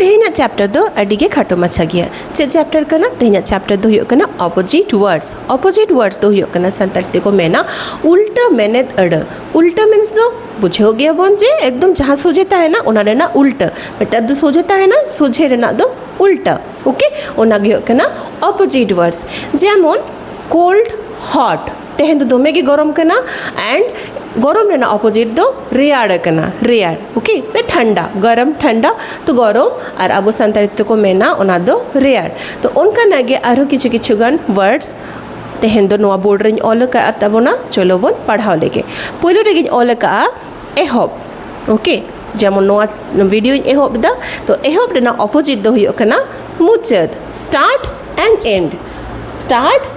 ᱛᱮᱦᱮᱧᱟᱜ ᱪᱮᱯᱴᱟᱨ ᱫᱚ ᱟᱹᱰᱤ ᱜᱮ ᱠᱷᱟᱴᱚ ᱢᱟᱪᱷᱟ ᱜᱮᱭᱟ ᱪᱮᱫ ᱪᱮᱯᱴᱟᱨ ᱠᱟᱱᱟ ᱛᱮᱦᱮᱧᱟᱜ ᱪᱮᱯᱴᱟᱨ ᱫᱚ ᱦᱩᱭᱩᱜ ᱠᱟᱱᱟ ᱚᱯᱳᱡᱤᱴ ᱣᱟᱨᱰᱥ ᱚᱯᱳᱡᱤᱴ ᱣᱟᱨᱰᱥ ᱫᱚ ᱦᱩᱭᱩᱜ ᱠᱟᱱᱟ ᱥᱟᱱᱛᱟᱲ ᱛᱮᱠᱚ ᱢᱮᱱᱟ ᱩᱞᱴᱟᱹ ᱢᱮᱱᱮᱛ ᱟᱹᱲᱟᱹ ᱩᱞᱴᱟᱹ ᱢᱤᱱᱥ ᱫᱚ ᱵᱩᱡᱷᱟᱹᱣ ᱜᱮᱭᱟᱵᱚᱱ ᱡᱮ ᱮᱠᱫᱚᱢ ᱡᱟᱦᱟᱸ ᱥᱚᱡᱷᱮ ᱛᱟᱦᱮᱱᱟ ᱚᱱᱟ ᱨᱮᱱᱟᱜ ᱩᱞᱴᱟᱹ ᱢᱤᱫᱴᱟᱝ ᱫᱚ ᱥᱚᱡᱷᱮ ᱛᱟᱦᱮᱱᱟ ᱥᱚᱡᱷᱮ ᱨᱮᱱᱟᱜ ᱫᱚ ᱩᱞᱴᱟᱹ ᱳᱠᱮ ᱚᱱᱟ ᱜᱮ ᱦᱩᱭᱩᱜ ᱠᱟᱱᱟ ᱚᱯᱳᱡᱤᱴ ᱣᱟᱨᱰᱥ ᱡᱮᱢᱚᱱ ᱠᱳᱞᱰ ᱦᱚᱴ ᱛᱮᱦᱮᱧ ᱫᱚ ᱫᱚᱢᱮ ᱜᱮ ᱜᱚᱨᱚᱢ ᱠᱟᱱᱟ ᱮᱱᱰ ᱜᱚᱨᱚᱢ ᱨᱮᱱᱟᱜ ᱚᱯᱚᱡᱤᱴ ᱫᱚ ᱨᱮᱭᱟᱲ ᱠᱟᱱᱟ ᱨᱮᱭᱟᱲ ᱳᱠᱮ ᱥᱮ ᱴᱷᱟᱱᱰᱟ ᱜᱚᱨᱚᱢ ᱴᱷᱟᱱᱰᱟ ᱛᱚ ᱜᱚᱨᱚᱢ ᱟᱨ ᱟᱵᱚ ᱥᱟᱱᱛᱟᱲᱤ ᱛᱮᱫᱚ ᱠᱚ ᱢᱮᱱᱟ ᱚᱱᱟ ᱫᱚ ᱨᱮᱭᱟᱲ ᱛᱚ ᱚᱱᱠᱟᱱᱟᱜ ᱜᱮ ᱟᱨᱦᱚᱸ ᱠᱤᱪᱷᱩ ᱠᱤᱪᱷᱩ ᱜᱟᱱ ᱣᱟᱨᱰᱥ ᱛᱮᱦᱮᱧ ᱫᱚ ᱱᱚᱣᱟ ᱵᱳᱨᱰ ᱨᱮᱧ ᱚᱞ ᱟᱠᱟᱫ ᱛᱟᱵᱚᱱᱟ ᱪᱚᱞᱚ ᱵᱚᱱ ᱯᱟᱲᱦᱟᱣ ᱞᱮᱜᱮ ᱯᱳᱭᱞᱳ ᱨᱮᱜᱮᱧ ᱚᱞ ᱟᱠᱟᱫᱼᱟ ᱮᱦᱚᱵ ᱳᱠᱮ ᱡᱮᱢᱚᱱ ᱱᱚᱣᱟ ᱵᱷᱤᱰᱤᱭᱳᱧ ᱮᱦᱚᱵ ᱮᱫᱟ ᱛᱚ ᱮᱦᱚᱵ ᱨᱮᱱᱟᱜ ᱚᱯᱚᱡᱤᱴ ᱫᱚ ᱦᱩᱭᱩᱜ ᱠᱟᱱᱟ ᱢᱩᱪᱟᱹᱫ ᱥᱴᱟᱨᱴ ᱮᱱᱰ ᱮᱱᱰ ᱥᱴᱟᱨᱴ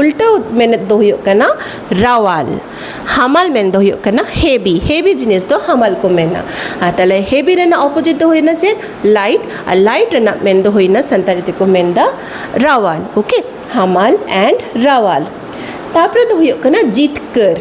ᱩᱞᱴᱟᱹ ᱢᱮᱱᱮᱛ ᱫᱚ ᱦᱩᱭᱩᱜ ᱠᱟᱱᱟ ᱨᱟᱣᱟᱞ ᱦᱟᱢᱟᱞ ᱢᱮᱱ ᱫᱚ ᱦᱩᱭᱩᱜ ᱠᱟᱱᱟ ᱦᱮᱵᱤ ᱦᱮᱵᱤ ᱡᱤᱱᱤᱥ ᱫᱚ ᱦᱟᱢᱟᱞ ᱠᱚ ᱢᱮᱱᱟ ᱟᱨ ᱛᱟᱦᱚᱞᱮ ᱦᱮᱵᱤ ᱨᱮᱱᱟᱜ ᱚᱯᱚᱡᱤᱴ ᱫᱚ ᱦᱩᱭᱱᱟ ᱪᱮᱫ ᱞᱟᱭᱤᱴ ᱟᱨ ᱞᱟᱭᱤᱴ ᱨᱮᱱᱟᱜ ᱢᱮᱱ ᱫᱚ ᱦᱩᱭᱱᱟ ᱥᱟᱱᱛᱟᱲᱤ ᱛᱮᱠᱚ ᱢᱮᱱᱫᱟ ᱨᱟᱣᱟᱞ ᱳᱠᱮ ᱦᱟᱢᱟᱞ ᱮᱱᱰ ᱨᱟᱣᱟᱞ ᱛᱟᱯᱚᱨᱮ ᱫᱚ ᱦᱩᱭᱩᱜ ᱠᱟᱱᱟ ᱡᱤᱛᱠᱟᱹᱨ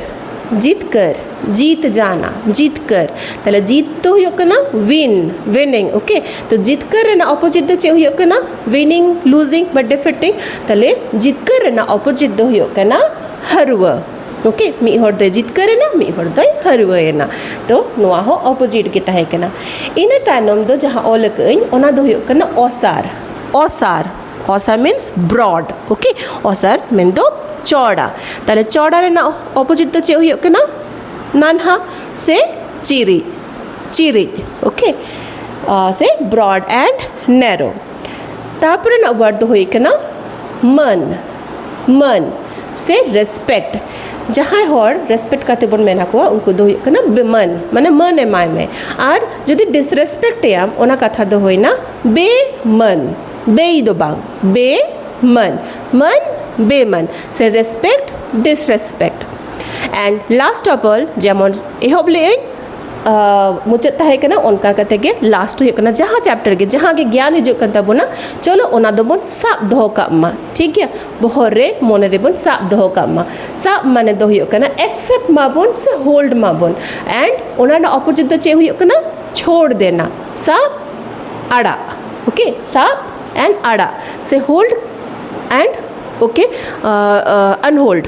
ᱡᱤᱛᱠᱟᱹᱨ ᱡᱤᱛ ᱡᱟᱱᱟ ᱡᱤᱛᱠᱟᱹᱨ ᱛᱟᱦᱚᱞᱮ ᱡᱤᱛ ᱫᱚ ᱦᱩᱭᱩᱜ ᱠᱟᱱᱟ ᱩᱭᱤᱱ ᱩᱭᱤᱱᱤᱝ ᱳᱠᱮ ᱛᱚ ᱡᱤᱛᱠᱟᱹᱨ ᱨᱮᱱᱟᱜ ᱚᱯᱚᱡᱤᱴ ᱫᱚ ᱪᱮᱫ ᱦᱩᱭᱩᱜ ᱠᱟᱱᱟ ᱩᱭᱱᱤᱝ ᱞᱩᱡᱤᱝ ᱵᱟ ᱰᱤᱯᱷᱤᱴᱤᱝ ᱛᱟᱦᱚᱞᱮ ᱡᱤᱛᱠᱟᱹᱨ ᱨᱮᱱᱟᱜ ᱚᱯᱚᱡᱤᱴ ᱫᱚ ᱦᱩᱭᱩᱜ ᱠᱟᱱᱟ ᱦᱟᱹᱨᱣᱟᱹ ᱳᱠᱮ ᱢᱤᱫ ᱦᱚᱲ ᱫᱚᱭ ᱡᱤᱛᱠᱟᱹᱨᱮᱱᱟ ᱢᱤᱫ ᱦᱚᱲ ᱫᱚᱭ ᱦᱟᱹᱨᱣᱟᱹᱭᱮᱱᱟ ᱛᱚ ᱱᱚᱣᱟ ᱦᱚᱸ ᱚᱯᱚᱡᱤᱴ ᱜᱮ ᱛᱟᱦᱮᱸ ᱠᱟᱱᱟ ᱤᱱᱟᱹ ᱛᱟᱭᱱᱚᱢ ᱫᱚ ᱡᱟᱦᱟᱸ ᱚᱞ ᱟᱠᱟᱫ ᱟᱹᱧ ᱚᱱᱟ ᱫᱚ ᱦᱩᱭᱩᱜ ᱠᱟᱱᱟ ᱚᱥᱟᱨ ᱚᱥᱟᱨ ᱚᱥᱟᱨ ᱢᱤᱱᱥ ᱵᱨᱚᱰ ᱳᱠᱮ ᱚᱥᱟᱨ ᱢᱮᱱ ᱫᱚ ᱪᱚᱣᱲᱟ ᱛᱟᱦᱚᱞᱮ ᱪᱚᱣᱲᱟ ᱨᱮᱱᱟᱜ ᱚᱯᱚᱡᱤᱴ ᱫᱚ ᱪᱮᱫ ᱦᱩᱭᱩᱜ ᱠᱟᱱᱟ ᱱᱟᱱᱦᱟ ᱥᱮ ᱪᱤᱨᱤᱡ ᱪᱤᱨᱤᱡ ᱳᱠᱮ ᱥᱮ ᱵᱨᱚᱰ ᱮᱱᱰ ᱱᱮᱨᱳ ᱛᱟᱯᱚᱨᱮ ᱨᱮᱱᱟᱜ ᱣᱟᱨᱰ ᱫᱚ ᱦᱩᱭᱩᱜ ᱠᱟᱱᱟ ᱢᱟᱹᱱ ᱢᱟᱹᱱ ᱥᱮ ᱨᱮᱥᱯᱮᱠᱴ ᱡᱟᱦᱟᱸᱭ ᱦᱚᱲ ᱨᱮᱥᱯᱮᱠᱴ ᱠᱟᱛᱮ ᱵᱚᱱ ᱢᱮᱱ ᱟᱠᱚᱣᱟ ᱩᱱᱠᱩ ᱫᱚ ᱦᱩᱭᱩᱜ ᱠᱟᱱᱟ ᱵᱮᱢᱟᱹᱱ ᱢᱟᱱᱮ ᱢᱟᱹᱱ ᱮᱢᱟᱭ ᱢᱮ ᱟᱨ ᱡᱩᱫᱤ ᱰᱤᱥᱨᱮᱥᱯᱮᱠᱴ ᱮᱭᱟᱢ ᱚᱱᱟ ᱠᱟᱛᱷᱟ ᱫᱚ ᱦᱩᱭᱮᱱᱟ ᱵᱮᱢᱟᱹᱱ ᱵᱮᱭ ᱫᱚ ᱵᱟᱝ ᱵᱮᱢᱟᱹᱱ ᱢᱟᱹᱱ ᱵᱮᱢᱟᱹᱱ ᱥᱮ respect disrespect and last of all ᱡᱮᱢᱚᱱ ᱮᱦᱚᱵ ᱞᱮᱫ ᱟᱹᱧ ᱢᱩᱪᱟᱹᱫ ᱛᱟᱦᱮᱸ ᱠᱟᱱᱟ ᱚᱱᱠᱟ ᱠᱟᱛᱮ ᱜᱮ ᱞᱟᱥᱴ ᱦᱩᱭᱩᱜ ᱠᱟᱱᱟ ᱡᱟᱦᱟᱸ ᱪᱮᱯᱴᱟᱨ ᱜᱮ ᱡᱟᱦᱟᱸ ᱜᱮ ᱜᱮᱭᱟᱱ ᱦᱤᱡᱩᱜ ᱠᱟᱱ ᱛᱟᱵᱚᱱᱟ ᱪᱚᱞᱚ ᱚᱱᱟ ᱫᱚᱵᱚᱱ ᱥᱟᱵ ᱫᱚᱦᱚ ᱠᱟᱜ ᱢᱟ ᱴᱷᱤᱠ ᱜᱮᱭᱟ ᱵᱚᱦᱚᱜ ᱨᱮ ᱢᱚᱱᱮ ᱨᱮᱵᱚᱱ ᱥᱟᱵ ᱫᱚᱦᱚ ᱠᱟᱜ ᱢᱟ ᱥᱟᱵ ᱢᱟᱱᱮ ᱫᱚ ᱦᱩᱭᱩᱜ ᱠᱟᱱᱟ ᱮᱠᱥᱮᱯᱴ ᱢᱟᱵᱚᱱ ᱥᱮ ᱦᱳᱞᱰ ᱢᱟᱵᱚᱱ ᱮᱱᱰ ᱚᱱᱟ ᱨᱮᱱᱟᱜ ᱚᱯᱚᱡᱤᱴ ᱫᱚ ᱪᱮᱫ ᱦᱩᱭᱩᱜ ᱠᱟᱱᱟ ᱪᱷᱳᱲ ᱫᱮᱱᱟ ᱥᱟᱵ ᱟᱲᱟᱜ ᱳᱠᱮ ᱥᱟᱵ ᱮᱱᱰ ᱟᱲᱟᱜ ᱥᱮ ᱦᱳᱞᱰ ᱮᱱᱰ ᱳᱠᱮ ᱟᱱᱦᱳᱞᱰ